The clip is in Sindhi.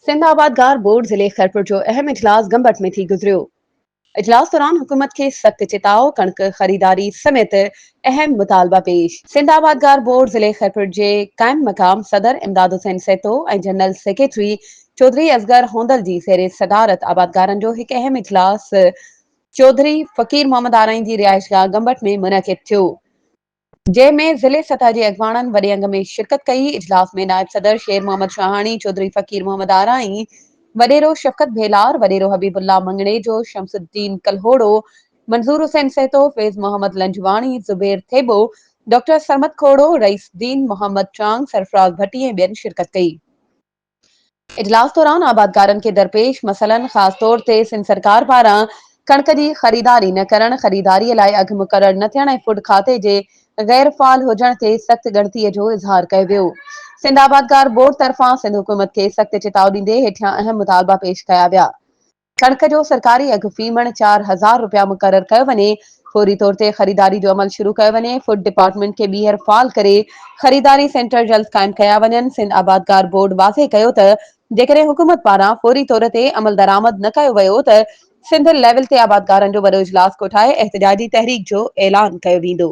سنڌ آبادگار بورڊ ضلعي خيرپور جو اهم اجلاس گمبٽ ۾ ٿي گذريو. اجلاس دوران حڪومت کي سخت چتاء، ڪڻڪ خريداري سميت اهم مطالبا پيش. سنڌ آبادگار بورڊ ضلعي خيرپور جي قائم مقام صدر امداد حسين سيتو ۽ جنرل سيڪريٽري چوڌري اصغر هوندل جي زير صدارت آبادگارن جو هڪ اهم اجلاس چوڌري فقير محمد آرائين جي رهائشگاهه گمبٽ ۾ منعقد ٿيو. جنهن ۾ ضلعي سطح جي اڳواڻن وڏي انگ ۾ شرڪت ڪئي، اجلاس ۾ نائب صدر شير محمد شاهاڻي، چوڌري فقير محمد آرائين، وڏيرو شفقت ڀيلار، وڏيرو Habibullah Manganhejo, Shamsuddin Kalhoro, Manzoor Hussain Sahto, Faiz Muhammad Lanjwani, Zubair Thebo, doctor Sarmad Khoro, Raisuddin, Muhammad Chang, Sarfaraz ڀٽي ۽ ٻين شرڪت ڪئي. اجلاس دوران آبادگارن کي درپيش مسئلن خاص طور تي سنڌ سرڪار پاران ڪڻڪ جي خريداري نه ڪرڻ، خريداري لاء اگهه مقرر نه ٿيڻ ۽ فوڊ کاتي جي غير فعال هجڻ تي سخت ڳڻتي جو اظهار ڪيو ويو. سنڌ آبادگار بورڊ طرفان سنڌ حڪومت کي سخت چتاء ڏيندي هيٺيان اهم مطالبا پيش ڪيا ويا. ڪڻڪ جو سرڪاري اگهه في مڻ چار هزار رپيا مقرر ڪيو وڃي، فوري طور تي خريداري جو عمل شروع ڪيو وڃي، فوڊ ڊپارٽمينٽ کي ٻيهر فعال ڪري خريداري سينٽر جلد قائم ڪيا وڃن، سنڌ آبادگار بورڊ واضح ڪيو ته جيڪڏهن حڪومت پاران فوري طور تي عملدرآمد نه ڪيو ويو ته سنڌ ليول تي آبادگارن جو وڏو اجلاس ڪوٺائي احتجاجي تحريڪ جو اعلان ڪيو ويندو.